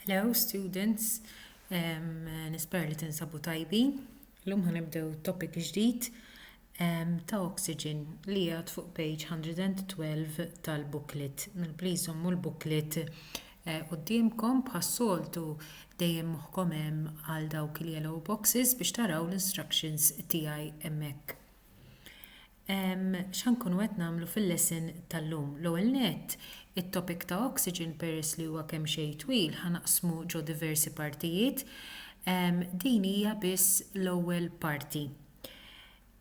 Hello students, um, nispera li tinsabu tajbin. L-lum ħanibdew topic ġdid um, ta' oxygen li jgħad fuq page 112 tal-booklet. Mel please zommu l-booklet eh, qudiemkom bħas-soltu dejjem moħħkom hemm għal dawk il-yellow boxes biex taraw l-instructions tiegħi hemmhekk. X'ħa nkunu qed nagħmlu fil-lesson tal-lum? L-ewwel nett, it-topic ta' oxygen peress li huwa kemm xejn twil ħa naqsmu ġo diversi partijiet. Din hija biss l-ewwel parti.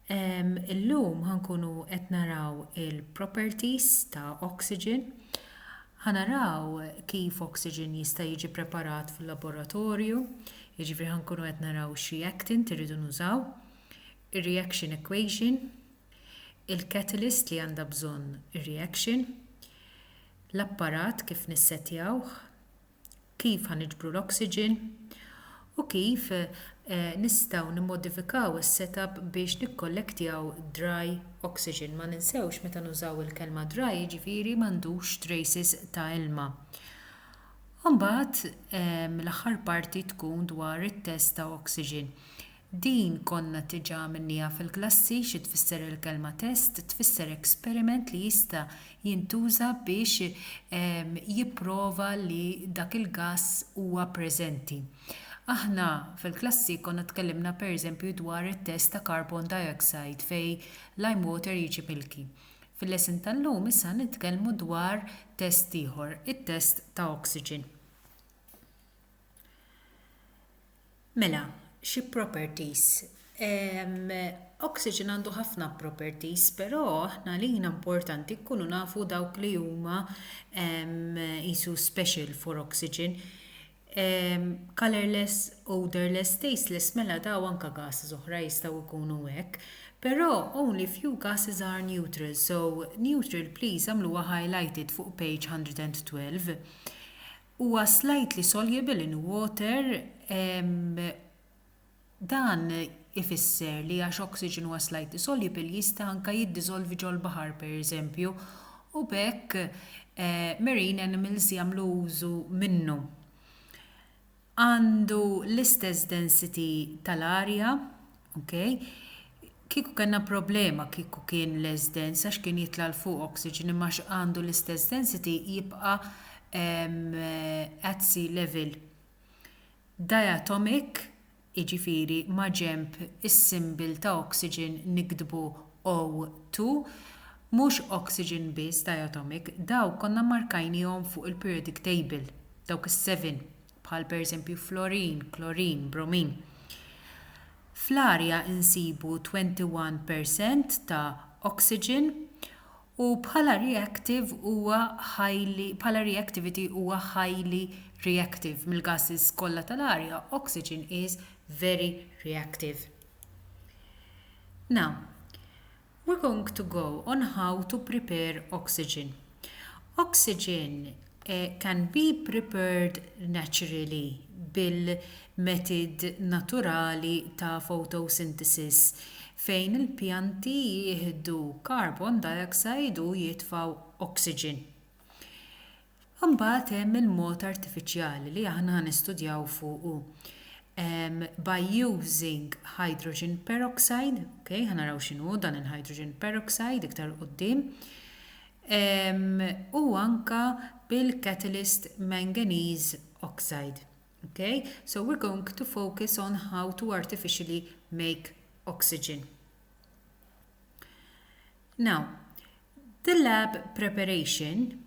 Illum ħa nkunu qed naraw il-properties ta' oxygen. Ħa naraw kif oxygen jista' jiġi preparat fil-laboratorju, jiġifieri ħa nkunu qed naraw xi actin irridu nużaw. ir-reaction equation, il-catalyst li għandha bżonn ir-reaction, l-apparat kif nissettjawh, kif ħa niġbru l-oxygen, u kif nistgħu nimmodifikaw is-setup biex nikkollektjaw dry oxygen. Ma ninsewx meta nużaw il-kelma dry jiġifieri m'għandux traces ta' ilma. Imbagħad l-aħħar parti tkun dwar it-test ta' oxygen. Din konna diġa għamilnieha fil-klassi, xi tfisser il-kelma test, tfisser experiment li jista jintuża biex jipprova li dak il-gass huwa preżenti. Aħna fil-klassi konna tkellimna per eżempju dwar it-test ta' carbon dioxide fejn lime water jiġi milky. Fil-lesson tal-lum issa ħa nitkellmu dwar test ieħor, it-test ta' oxygen. Mela, xi properties. Ehm, oxygen għandu ħafna properties, però aħna għalina importanti nkunu nafu dawk li huma ehm, isu special for oxygen. Ehm, colorless, odorless, tasteless, mela daw anka gases oħra jistgħu jkunu hekk. Però only few gases are neutral, so neutral please għamluha highlighted fuq page 112. Huwa slightly soluble in water, dan ifisser li għax oxygen huwa slightly soluble jista' anke jiddiżolvi ġol-baħar pereżempju u b'hekk marine animals jagħmlu użu minnu. Għandu l-istess density tal-arja. Ok. Kieku kellna problema kieku kien less dense għax kien jitla' 'l fuq oxygen imma għax għandu l-istess density jibqa' at sea level. Diatomic jiġifieri maġenb is-symbol ta' oxygen niktbu O2 mhux oxygen biss diatomic dawn konna mmarkajniehom fuq il-periodic table dawk is-seven. bħal pereżempju florin, klorin, bromin. Fl-arja insibu 21 per cent ta' oxygen u bħala reactive huwa highly bħala reactivity huwa highly reactive mill-gases kollha tal-arja oxygen is very reactive. Now, We're going to go on how to prepare oxygen. Oxygen can be prepared naturally bil-metid naturali ta' photosynthesis fejn il-pjanti jieħdu carbon dioxide u jitfgħu oxygen. Imbagħad hemm il-mod artifiċjali li aħna ħa nistudjaw fuqu by using hydrogen peroxide, ok, ħa naraw x'inhu dan il-hydrogen peroxide iktar 'l quddiem, u anke bil-catalyst manganese oxide. Ok, so we're going to focus on how to artificially make oxygen. Now, the lab preparation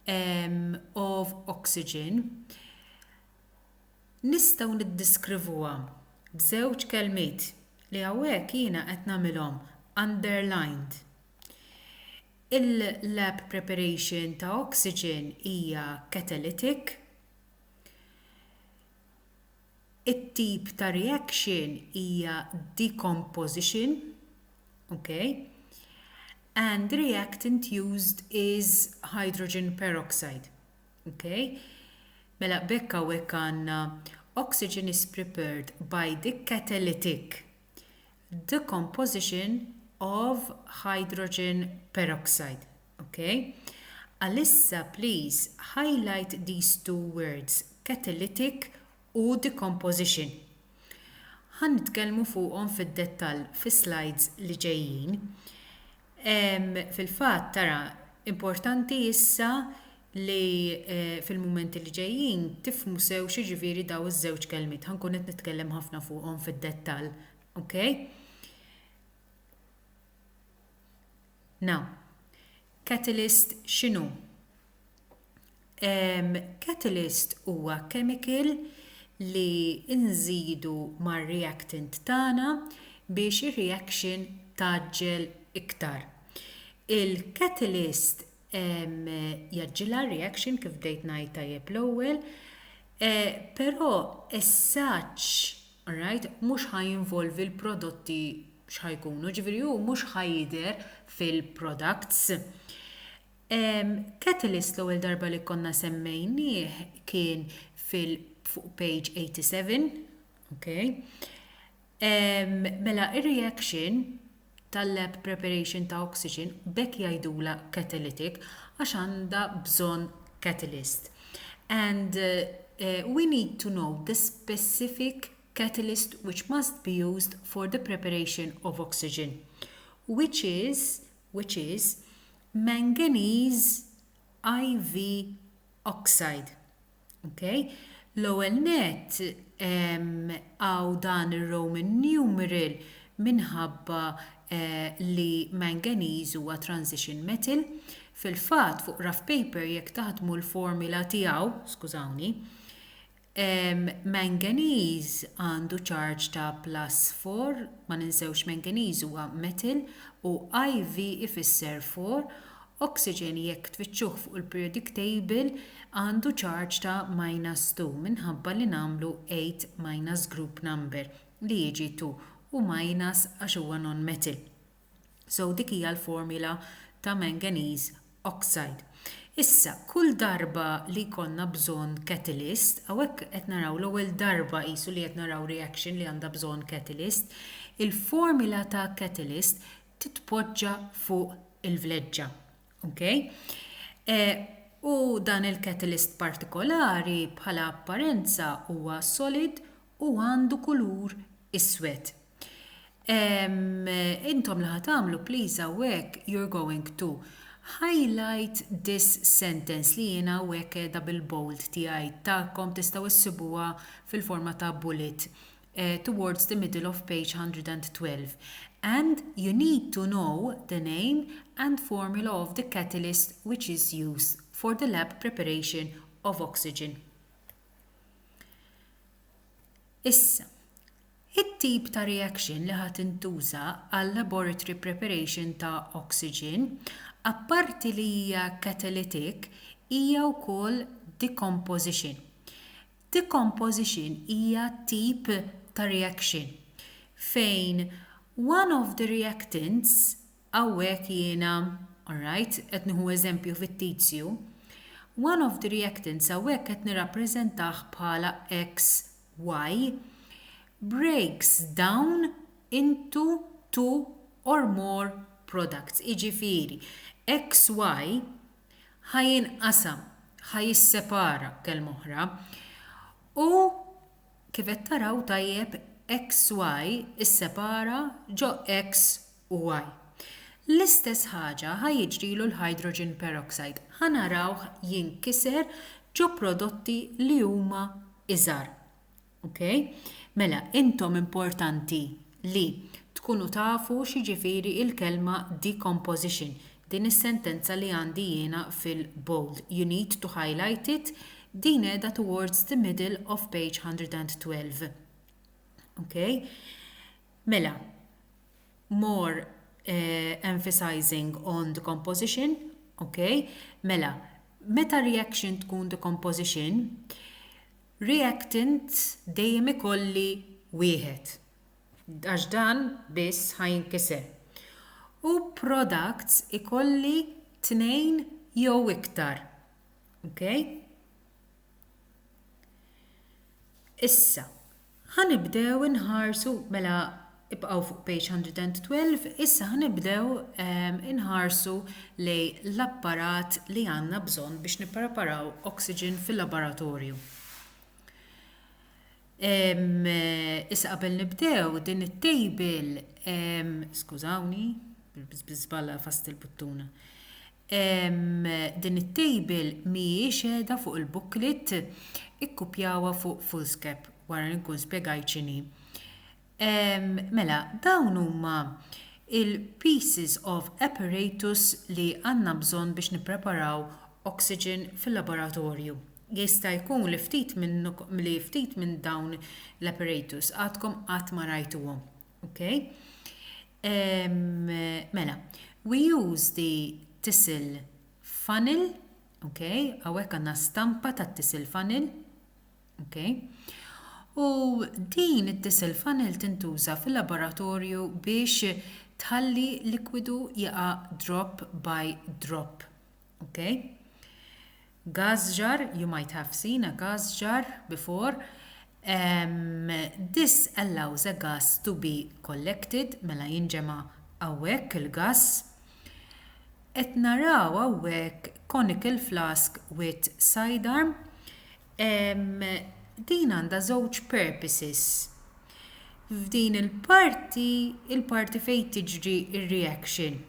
um, of oxygen nistgħu niddiskrivuha b'żewġ kelmiet li hawnhekk jiena qed nagħmilhom underlined. Il-lab preparation ta' oxygen hija catalytic, It-tip ta' reaction hija decomposition, ok, and the reactant used is hydrogen peroxide, ok. Mela b'hekk hawnhekk għandna oxygen is prepared by the catalytic decomposition of hydrogen peroxide. Okay? Għalissa please highlight these two words, catalytic u decomposition. Ħa nitkellmu fuqhom fid-dettall fis-slides li ġejjin. Fil-fatt tara importanti issa li eh, fil-mumenti li ġejjin tifmu sew xiġifieri daw iż-żewġ kelmiet. Ħankun qed nitkellem ħafna fuqhom fid-dettall. Okay? Now, catalyst x'inhu? Um, catalyst huwa chemical li nżidu mar-reactant tagħna biex ir-reaction taġġel iktar. Il-catalyst um, jaġġilha reaction kif bdejt ngħid tajjeb l-ewwel, eh, però essaċ Alright, mhux ħa jinvolvi l-prodotti x'ħa jkunu, ġifieri hu mhux ħa jidher fil-products. Ehm, catalyst l-ewwel darba li konna semmejnieh kien fil fuq page 87, okay? Ehm, mela ir-reaction tal-lab preparation ta' oxygen, b'hekk jgħidulha catalytic għax għandha bżonn catalyst. And we need to know the specific catalyst which must be used for the preparation of oxygen which is which is manganese iv oxide. Okay? L-ewwel net għaw dan ir-Roman numeral minħabba eh, li manganese huwa transition metal. Fil-fatt fuq rough paper jekk taħdmu l-formula tiegħu, skużawni, manganese għandu charge ta' plus 4, ma ninsewx manganese huwa metal u IV ifisser 4 Oxygen jekk tfittxuh fuq il-periodic table għandu charge ta' minus two minħabba li nagħmlu eight minus group number li jiġi two u minus għax huwa non-metal. So dik hija l-formula ta' manganese oxide. Issa kull darba li jkollna bżonn catalyst, hawnhekk qed naraw l-ewwel darba qisu li qed naraw reaction li għandha bżonn catalyst, il-formula ta' catalyst titpoġġa fuq il-vleġġa. Okay? E, u dan il-catalyst partikolari bħala apparenza huwa solid u għandu kulur iswed. Intom li ħatamlu, please, għawek, you're going to highlight this sentence li jena għawek edha bil-bold tijaj ta'kom tistaw issibuwa fil-forma ta' bullet towards the middle of page 112 and you need to know the name and formula of the catalyst which is used for the lab preparation of oxygen. Issa, it-tip ta' reaction li ħa tintuża għal-laboratory preparation ta' oxygen, apparti li hija catalytic, hija wkoll decomposition. Decomposition hija tip ta' reaction fejn one of the reactants, hawnhekk jiena, alright, qed nieħu eżempju fittizju, one of the reactants hawnhekk qed nirrappreżentah bħala XY, breaks down into two or more products, jiġifieri XY, ħa jinqasam, ħa jissepara, b'kelma oħra. U kif qed taraw tajjeb, XY issepara ġo X u Y. L-istess ħaġa ħa jiġrilu l-hydrogen peroxide, ħa narawh jinkiser ġo prodotti li huma iżgħar. Ok? Mela, intom importanti li tkunu tafu x'jiġifieri il-kelma decomposition, din is-sentenza li għandi jiena fil-bold, you need to highlight it, din qiegħda towards the middle of page 112. Ok? Mela, more uh, emphasizing on the composition, ok? Mela, meta reaction tkun the composition, Reactant dejjem ikolli wieħed, għax dan biss ħa jinkiser. U products ikolli tnejn jew iktar. Ok? Issa, ħa nibdew inħarsu mela Ibqgħu fuq page 112, issa ħa nibdew inħarsu lejn l-apparat li għandna bżonn biex nippreparaw oxygen fil-laboratorju. Issa qabel nibdew din it-table, skużawni, biżballa fast il-buttuna. Din it-table mhijiex qiegħda fuq il-booklet, ikkupjawha fuq Fullscape wara li nkun spjegajt x'inhi. Mela, dawn huma l-pieces of apparatus li għandna bżonn biex nippreparaw oxygen fil-laboratorju. Jista' jkun li ftit li ftit minn dawn l-apparatus għadkom qatt ma rajtuhom. Ok? Mela, we use the tissel funnel, ok, hawnhekk għandna stampa tat-tissel funnel, Ok. U din it-tissel funnel tintuża fil-laboratorju biex tħalli likwidu jaqa' drop by drop. Ok. Gas jar, you might have seen a gas jar before. Um, this allows a gas to be collected, mela jinġema' hawnhekk il-gas. Qed naraw hawnhekk conical flask with sidearm. Ehm, din għandha żewġ purposes. F'din il-parti, il-parti fejn tiġri ir-reaction.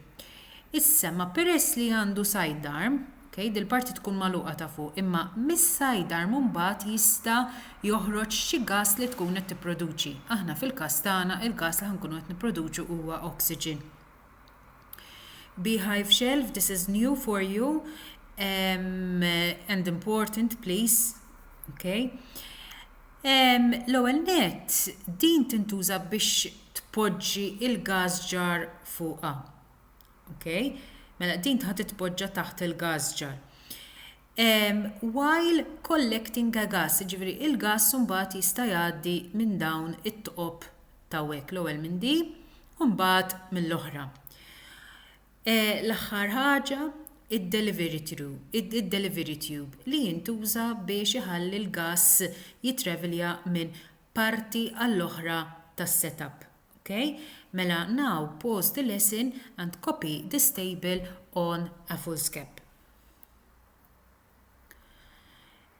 Issa ma peress li għandu sidearm, okay, dil-parti tkun magħluqa ta' fuq, imma mis-sidearm mbagħad jista' joħroġ xi gas li tkun qed tipproduċi. Aħna fil-każ tagħna il-gas li ħankunu qed nipproduċu huwa oxygen. Beehive shelf this is new for you um, and important please. Okay. Um, L-ewwel net din tintuża biex tpoġġi il-gas jar fuqha. Okay. Mela din tħad titpoġġa taħt il-gas jar. while collecting the gas, jiġifieri l-gass mbagħad jista' jgħaddi minn dawn it-tqob t'hawnhekk, l-ewwel minn di u mbagħad mill-oħra. L-aħħar ħaġa, id-delivery tube, id-delivery tube li jintuża biex iħalli l-gass jitravelja minn parti għall-oħra tas-setup. Okay? Mela now pause the lesson and copy this table on a foolscap.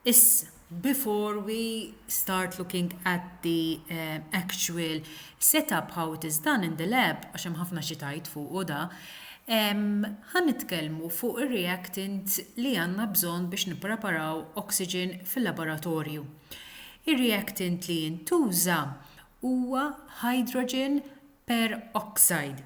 Issa, before we start looking at the uh, actual setup how it is done in the lab, għax hemm ħafna xi tajt fuqu da, ħan nitkellmu fuq ir-reactant li għandna bżonn biex nippreparaw oxygen fil-laboratorju. Ir-reactant li jintuża huwa hydrogen peroxide.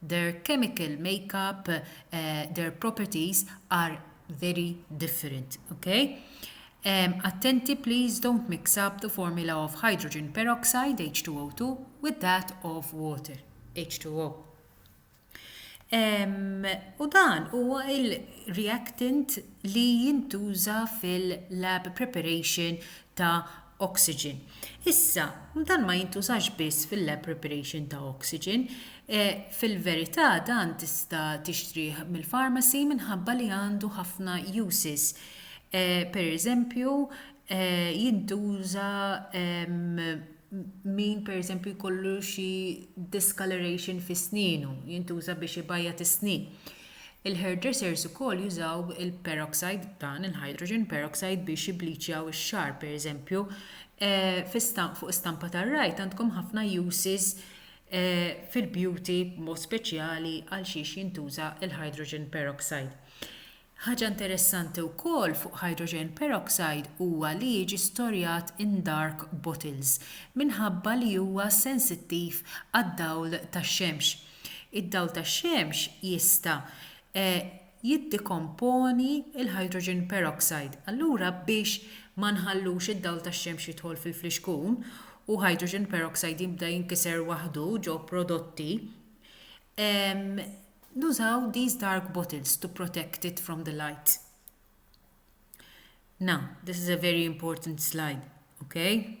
Their chemical makeup, their properties are very different. Okay? Um, attenti, please don't mix up the formula of hydrogen peroxide, H2O2, with that of water, H2O. Um, u dan huwa il-reactant li jintuża fil-lab preparation ta' oxygen. Issa, dan ma jintużax biss fil-lab preparation ta' oxygen, eh, fil-verità dan tista' tixtrih mill-pharmacy minħabba li għandu ħafna uses. Eh, per eżempju, eh, jintuża ehm, min per eżempju jkollu xi discoloration fi sninu, jintuża biex ibajja is-snin. Il-hairdressers ukoll jużaw il-peroxide, dan il-hydrogen peroxide biex jibbliċjaw ix-xagħar pereżempju, fuq stampa tar-right għandkom ħafna uses fil-beauty b'mod speċjali għal xiex jintuża l-hydrogen peroxide. Ħaġa interessanti wkoll fuq hydrogen peroxide huwa li jiġi storjat in dark bottles minħabba li huwa sensittiv għad-dawl tax-xemx. Id-dawl tax-xemx jista' jiddikomponi l-hydrogen peroxide. Allura biex ma nħallux id-dawl tax-xemx jidħol fil-flixkun u hydrogen peroxide jibda jinkiser waħdu ġo prodotti, nużaw these dark bottles to protect it from the light. Now, this is a very important slide, okay?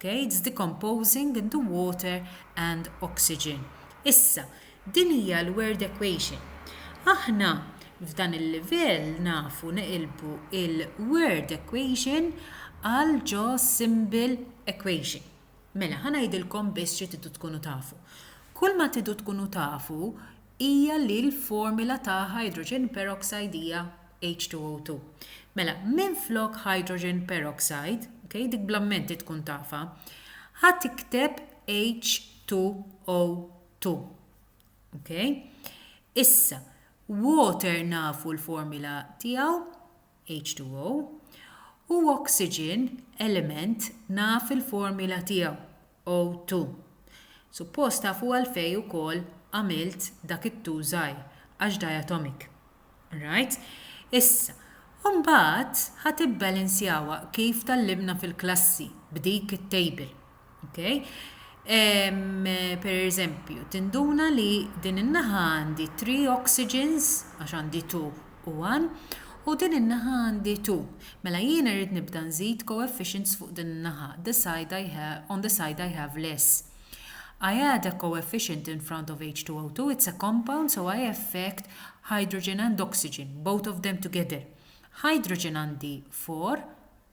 gates decomposing into water and oxygen. Issa, din hija l-word equation. Aħna f'dan il-livell nafu neqilbu l-word equation għal ġo symbol equation. Mela, ħa ngħidilkom biss xi tridu tkunu tafu. Kull ma tridu tkunu tafu hija li l-formila ta' hydrogen peroxide hija H2O2. Mela, minflok hydrogen peroxide, okay, dik bl-ammenti tkun tafa, ħa tikteb H2O2. Okay? Issa, water nafu l-formila tiegħu, H2O, u oxygen element naf il-formula tiegħu, O2. Suppost tafu għalfejn ukoll għamilt dak it-2 żgħir, għax diatomic. Right? Issa, mbagħad ħa tibbalanzjawha kif tgħallimna fil-klassi b'dik it-table. Okay? Um, per eżempju, tinduna li din in-naħa għandi 3 oxygens, għax għandi 2 u 1, u din in-naħa għandi 2. Mela jien irrid nibda nżid coefficients fuq din in-naħa. The side I have, on the side I have less. I add a coefficient in front of H2O2, it's a compound, so I affect hydrogen and oxygen, both of them together. Hydrogen għandi 4,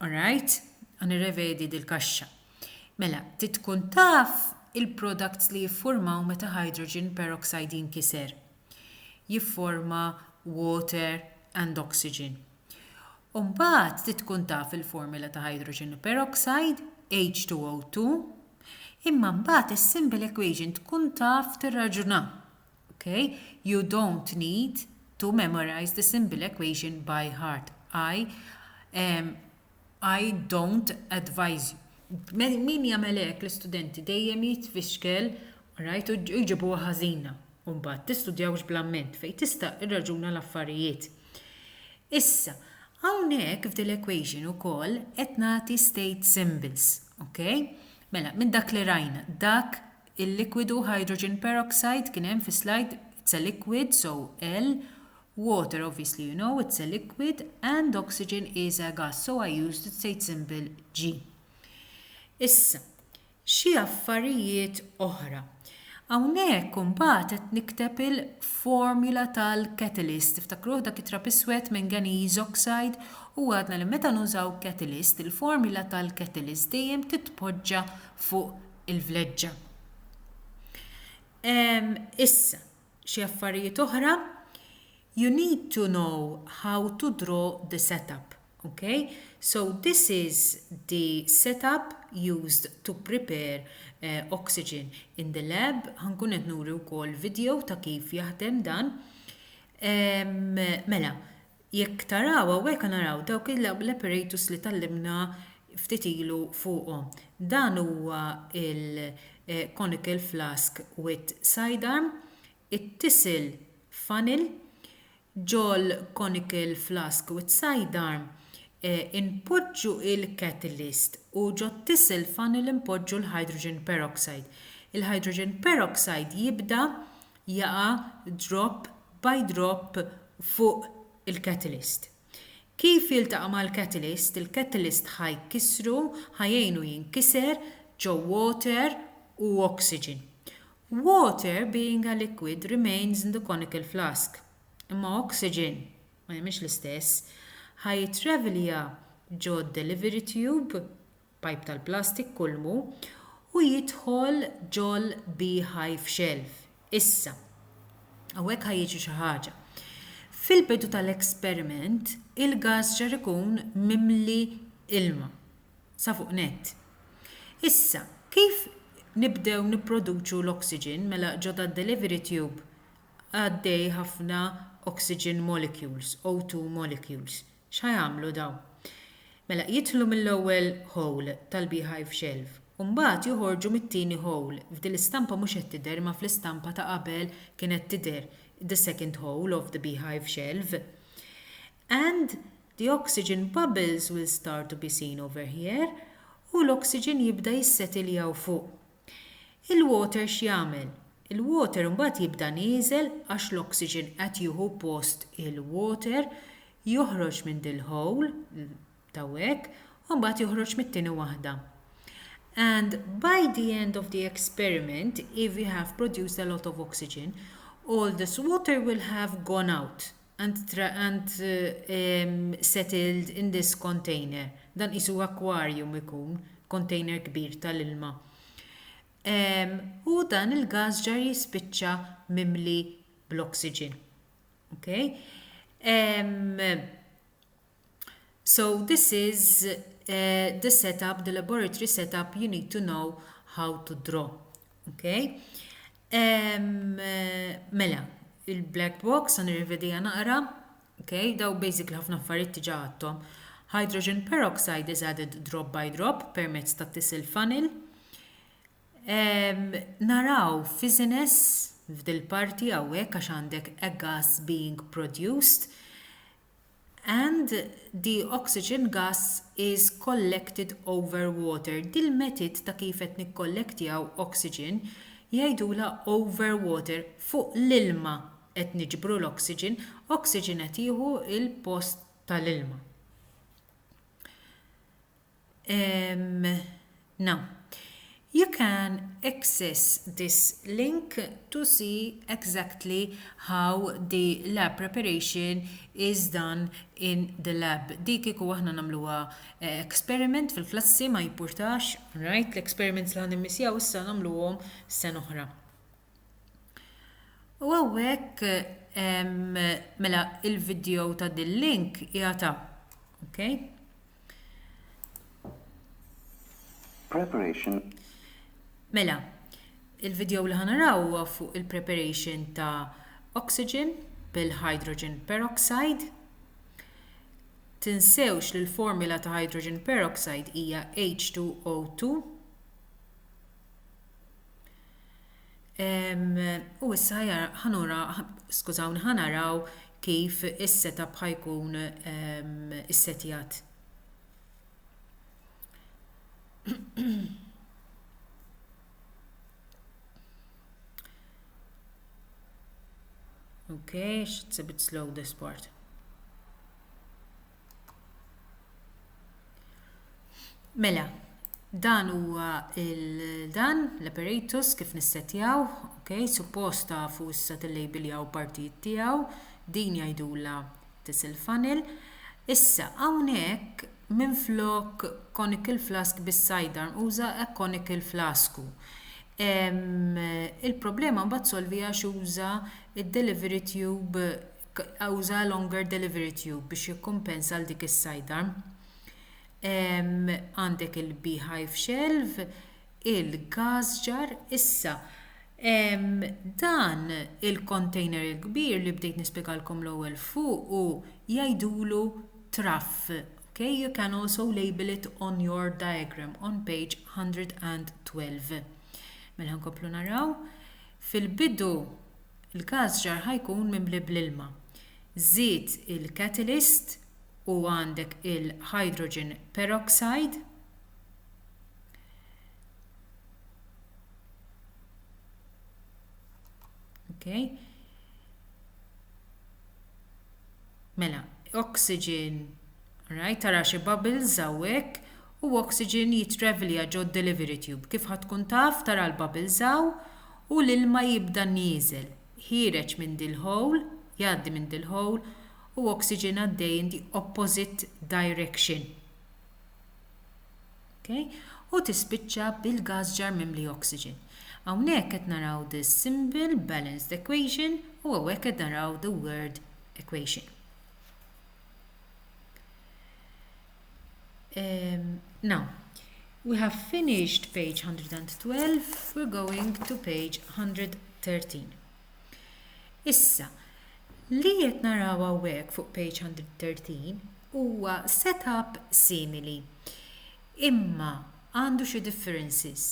All right, għan irrevedi dil-kaxxa. Mela, trid tkun taf il-products li jiffurmaw meta hydrogen peroxide jinkiser. Jifforma water and oxygen. Umbagħad trid tkun taf il-formula ta' hydrogen peroxide, H2O2, imma mbagħad is-simple equation tkun taf tirraġuna. Okay? You don't need to memorize the simple equation by heart. I, um, I don't advise you. Min jagħmel hekk l-istudenti dejjem jitfixkel rajt u jġibu ħażina. Mbagħad tistudjawx bl-amment fejn tista' irraġuna l-affarijiet. Issa, hawnhekk f'dil equation ukoll qed nagħti state symbols, okay? Mela, minn dak li rajna, dak Il-likwidu hydrogen peroxide kien hemm fis-slajd it's a liquid so L water obviously you know it's a liquid and oxygen is a gas so I used the state symbol G. Issa, xi affarijiet oħra. Hawnhekk imbagħad qed nikteb il-formula tal-catalyst. Tiftakruh dak it-trab iswed manganese oxide u għadna li meta nużaw catalyst, il-formula tal-catalyst dejjem titpoġġa fuq il-vleġġa. Um, issa, xi affarijiet oħra, you need to know how to draw the setup. Okay, so this is the setup used to prepare uh, oxygen in the lab. Ħankun qed nuri wkoll video ta' kif jaħdem dan. Um, mela, Jekk taraw hawnhekk qed naraw dawk l-apparatus li tgħallimna ftit ilu fuqhom. Dan huwa l-conical flask with sidearm, it-tisel funnel, ġol-conical flask with sidearm inpoġġu l-catalyst u ġot-tisel funnel inpoġġu l-hydrogen peroxide. Il-hydrogen peroxide jibda jaqa' drop by drop fuq il-catalyst. Kif jiltaqa' mal-catalyst, il-catalyst ħa jkissru, ħa jgħinu jinkiser ġo water u oxygen. Water, being a liquid, remains in the conical flask. Imma oxygen, ma jagħmilx l-istess, ħa jittravellja ġo delivery tube pipe tal-plastik kulmu u jidħol ġol beehive shelf issa hawnhekk ħa jiġri xi ħaġa fil-bidu tal-experiment il-gass ġar ikun mimli ilma sa fuq nett issa kif nibdew nipproduċu l-oxygen mela ġo dad-delivery tube għaddej ħafna oxygen molecules O2 molecules X'ħa jagħmlu dawn? Mela, jidħlu mill-ewwel hole tal-beehive shelf u mbagħad joħorġu mit-tieni hole. F'din l-istampa mhux qed tidher imma fl-istampa ta' qabel kienet tidher the second hole of the beehive shelf. And the oxygen bubbles will start to be seen over here u l-oxygen jibda jissetilja 'l fuq. Il-water x'jagħmel? Il-water imbagħad jibda nieżel għax l-oxygen qed jieħu post il-water, joħroġ minn dil-hole, t'hawnhekk, u mbagħad joħroġ mit-tieni waħda. And by the end of the experiment, if we have produced a lot of oxygen, all this water will have gone out. and settled in this container dan qisu akwarjum ikun, kontejner kbir tal-ilma. Hu dan il-gass ġar jispiċċa mimli bl-oxygen. Ok? So this is uh, the setup, the laboratory setup you need to know how to draw. Okay? Um, uh, mela, il-black box, għan rivedija naqra, okay? daw basic li ħafna affarijiet tiġa għattom. Hydrogen peroxide is added drop by drop permezz ta' tisil funnel. Um, naraw fiziness f'dil parti għawek għax għandek a gas being produced and the oxygen gas is collected over water dil-metid ta' kif qed nikkollektjaw oxygen jgħidulha over water fuq l-ilma qed niġbru l-oxygen oxygen qed jieħu l-post tal-ilma. Um, no. You can access this link to see exactly how the lab preparation is done in the lab. Di kiku aħna namluwa eh, experiment fil-klassi ma jimpurtax, right? L-experiments li għan immissjaw issa namluwom sen oħra. U għawek, mela, il-video ta' dil-link jgħata. Ok? Preparation. Mela, il-video li ħanaraw huwa fuq il-preparation ta' oxygen bil-hydrogen peroxide. Tinsewx li l-formula ta' hydrogen peroxide hija H2O2 U issa ħanura, skużawni, ħanaraw kif is-setup ħajkun issetjat. Okay, it's a bit slow this part. Mela, dan huwa il-dan, l-apparatus kif nissetjaw, ok, suppost tafu issa tillejbiljaw partijiet tiegħu, din jgħidulha tisel funnel. Issa hawnhekk minflok conical flask bis-sidearm uża a conical flasku. Il-problema mbagħad solviha għax uża d-delivery tube uża longer delivery tube biex jikkumpensa għal dik is-sidearm. Għandek il-beehive shelf, il-gas jar, issa dan il-container il-kbir li bdejt nispjegalkom l-ewwel fuq u jgħidulu traff. Okay, you can also label it on your diagram on page 112. Mela nkomplu naraw. Fil-bidu il-każ ġar ħa jkun mimli bl-ilma. Żid il-catalyst u għandek il-hydrogen peroxide, Okay. Mela, oxygen Alright, tara xi bubbles hawnhekk u oxygen jitravelja ġod delivery tube. Kif ħa tkun taf, tara l-bubbles hawn u l-ilma jibda nieżel. Ħiereġ minn dil-hole, jgħaddi minn dil-hole u oxygen għaddej in the opposite direction. Okay? U tispiċċa bil-gas jar mimli oxygen. Hawnhekk qed naraw the symbol balanced equation u hawnhekk qed naraw the word equation. Um, now, we have finished page 112, we're going to page 113. Issa, li qed naraw hawnhekk fuq page 113 huwa setup simili. Imma għandu xi differences.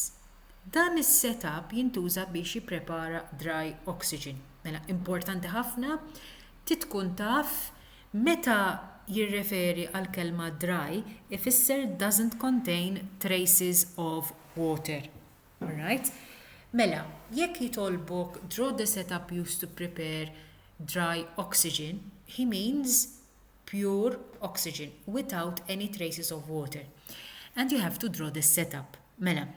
Dan is-setup jintuża biex jipprepara dry oxygen. Mela importanti ħafna Trid tkun taf meta jirreferi għall-kelma dry ifisser doesn't contain traces of water. Alright? Mela, jekk jitolbok draw the setup used to prepare dry oxygen, he means pure oxygen without any traces of water. And you have to draw the setup. Mela,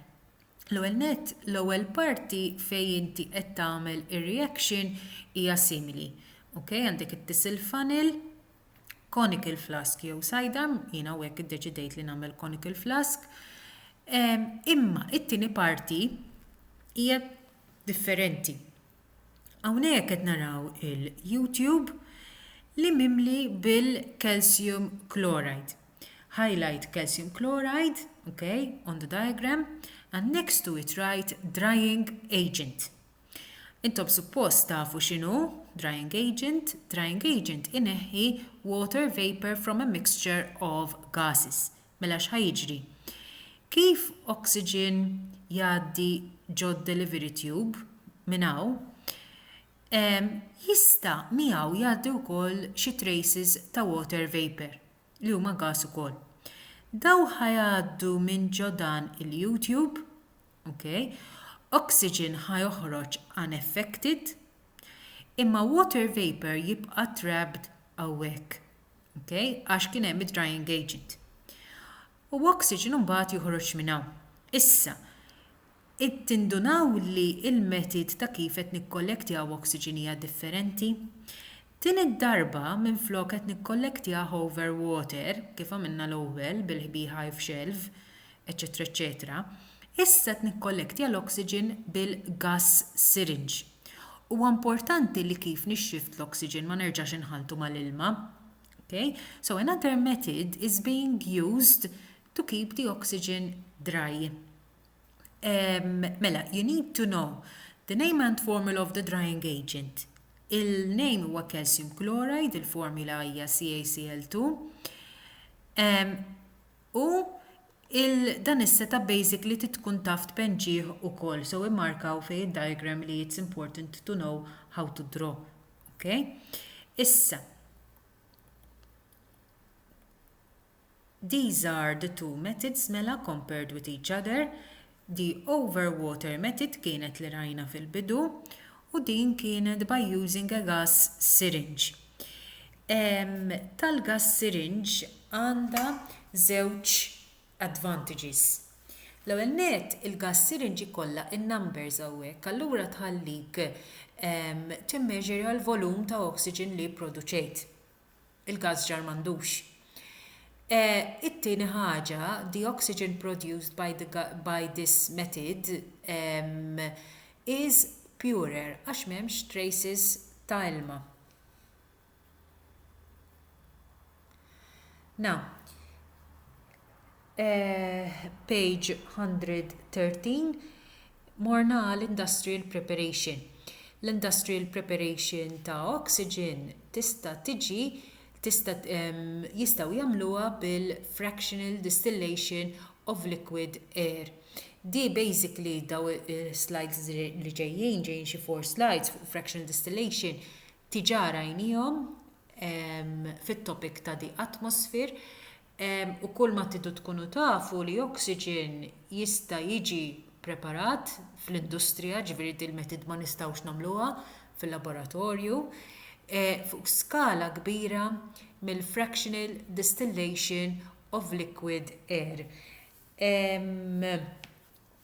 L-ewwel nett, l-ewwel parti fejn inti qed tagħmel ir-reaction hija simili. Okay? Għandek it-tisel funnel, conical flask jew sidearm, jiena u hekk iddeċidejt li nagħmel conical flask. Imma it-tieni parti hija differenti. Hawnhekk qed naraw il-YouTube li mimli bil-calcium chloride. Highlight calcium chloride, okay, on the diagram, and next to it write drying agent. Intom suppost tafu x'inhu drying agent. Drying agent ineħħi water vapor from a mixture of gases. Mela x'ħa jiġri? Kif oxygen jgħaddi ġod-delivery tube minn hawn, jista' miegħu jgħaddi wkoll xi traces ta' water vapour, li huma gas ukoll. Dawn ħa jgħaddu minn ġo dan il-U-tube, Okay? Oxygen ħa joħroġ unaffected imma water vapor jibqa' trapped hawnhekk. Okay? Għax kien hemm id-drying agent. U oxygen mbagħad joħroġ minn hawn. Issa, tindunaw li l-metid ta' kif qed nikkollektjaw oxygen hija differenti. Din id-darba, minflok qed nikkollektjah over water, kif għamilna l-ewwel bil-ħbiehhive shelf, eċċetera eċċetera, issa qed nikkollektja l-oxygen bil-gas syringe. Huwa importanti li kif nixxift l-oxygen ma nerġax inħalltu mal-ilma. Ok? So another method is being used to keep the oxygen dry. Ehm, mela, you need to know the name and formula of the drying agent. Il-name huwa calcium chloride, il-formula hija CaCl2. Ehm, u il-dan is-seta basic li titkun taf tpenġih ukoll, so immarkaw fej id-diagram li it's important to know how to draw. Okay? Issa, These are the two methods mela compared with each other, the over water method kienet li rajna fil-bidu u din kienet by using a gas syringe. Tal-gas syringe għandha żewġ advantages. L-ewwel nett il-gas syringe ikollha n-numbers hawnhekk allura tħallik timmeasurja l-volum ta' oxygen li pproduċejt. il-gass ġar m'għandux. It-tieni ħaġa, the oxygen produced by the by this method is purer għax m'hemmx traces ta' ilma. Now, page 113, morna għal industrial preparation. L-industrial preparation ta' oxygen tista' tiġi tista' jistgħu jagħmluha bil-fractional distillation of liquid air. Di basically daw is-slides li ġejjin, ġejjin xi four slides fuq fractional distillation, tiġà rajnihom fit-topic ta' the atmosphere. u kull ma tidu tkunu tafu li oxygen jista jiġi preparat fl-industrija ġifiri dil metid ma nistawx namluha fil-laboratorju fuq skala kbira mill fractional distillation of liquid air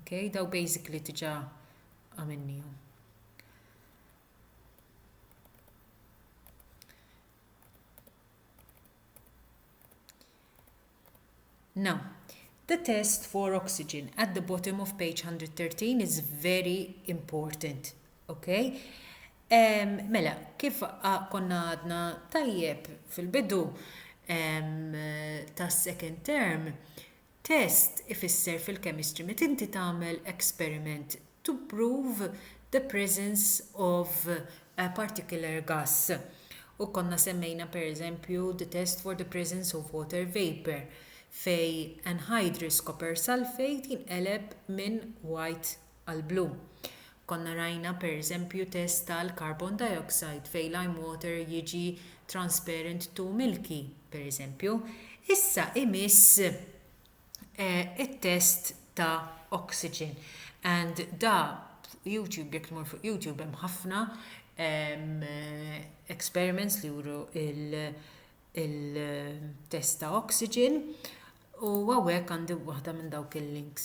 Okay, daw basically diġa għamennijom. Now, the test for oxygen at the bottom of page 113 is very important. Okay? Um, mela, kif konna għadna tajjeb fil-bidu um, ta' second term, Test ifisser fil-chemistry meta inti tagħmel experiment to prove the presence of a particular gas. U konna semmejna per eżempju the test for the presence of water vapour fejn anhydrous copper sulphate jinqeleb minn white għall-blu. Konna rajna pereżempju test tal-carbon dioxide fejn lime water jiġi transparent to milky, pereżempju. Issa imiss it-test ta' oxygen and da fuq YouTube jekk tmur fuq YouTube hemm ħafna experiments li juru il-test ta' oxygen u hawnhekk għandi waħda minn dawk il-links.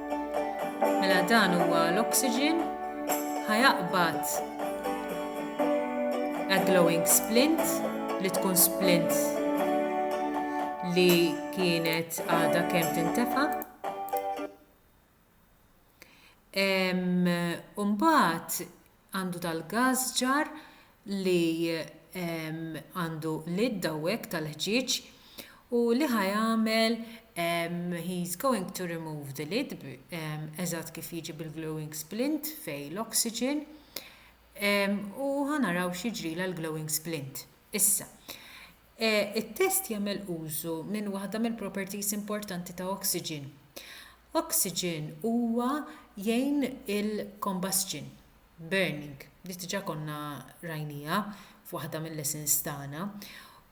Mela dan huwa l-oxygen ħa jaqbad a glowing splint li tkun splint li kienet għadha kemm tintefa'. Umbagħad Għandu dal-gass ġar li għandu lid hawnhekk tal-ħġieġ u li ħa jagħmel he is going to remove the lid eżatt kif jiġi bil-glowing splint fejn l-oxygen u ħa naraw x'jiġrilha l-glowing splint. Issa. e It-test jagħmel użu minn waħda mill-properties importanti ta' oxygen. Oxygen huwa jgħin il-combustion, burning, li diġa konna rajniha f'waħda mil-lessons tagħna,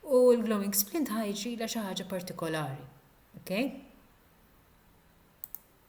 u l-glowing splint ħa jiġrilha xi ħaġa partikolari. Okay?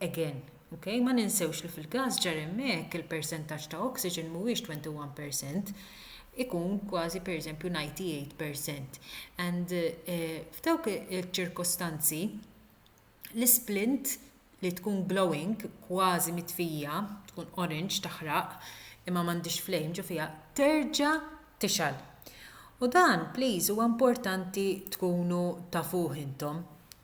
Again. Ok? Ma ninsewx li fil-każ ġar hemmhekk il-persentaġġ ta' oxygen mhuwiex 21 per cent, ikun kważi per eżempju 98 per cent. And f'dawk iċ-ċirkostanzi l-isplint li tkun glowing, kważi mitfija, tkun orange, taħraq, imma m'għandhiex flame ġo fiha, terġa' tixgħal. U dan please huwa importanti tkunu tafuh intom.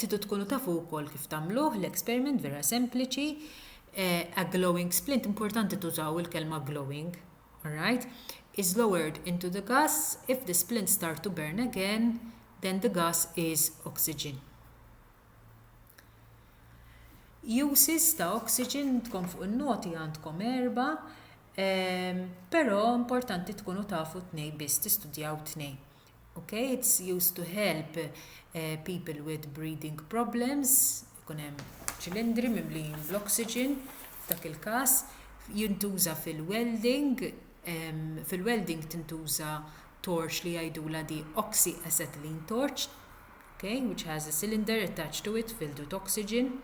Tidu tkunu tafu wkoll kif tagħmluh l-experiment vera sempliċi. Eh, a glowing splint, importanti tużaw il-kelma glowing, alright? Is lowered into the gas, if the splint start to burn again, then the gas is oxygen. Uses ta' oxygen tkom fuq il-noti għandkom erba, ehm, pero importanti tkunu tafu t-nej biss, tistudjaw t-nej. Okay, it's used to help uh, people with breathing problems, ikun hemm ċilindri mimlijin bl-oxygen, dak il-każ jintuża fil-welding, um, fil-welding tintuża torch li jgħidula di oxyacetylene torch, okay, which has a cylinder attached to it filled with oxygen.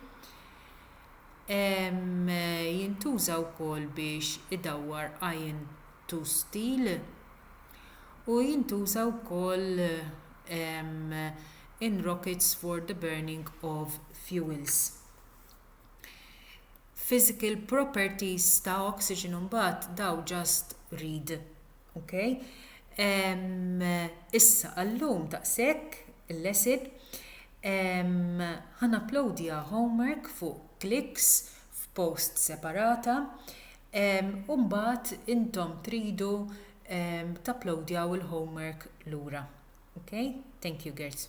Um, jintuża wkoll biex idawwar iron tustil u jintuża wkoll in rockets for the burning of fuels. Physical properties ta' oxygen imbagħad dawn just read. Ok? Issa għallum daqshekk il-lesson ħa napplowdja homework fuq Clicks f'post separata. u mbagħad intom tridu tapplowdjaw il-homework lura. Okay? Thank you girls.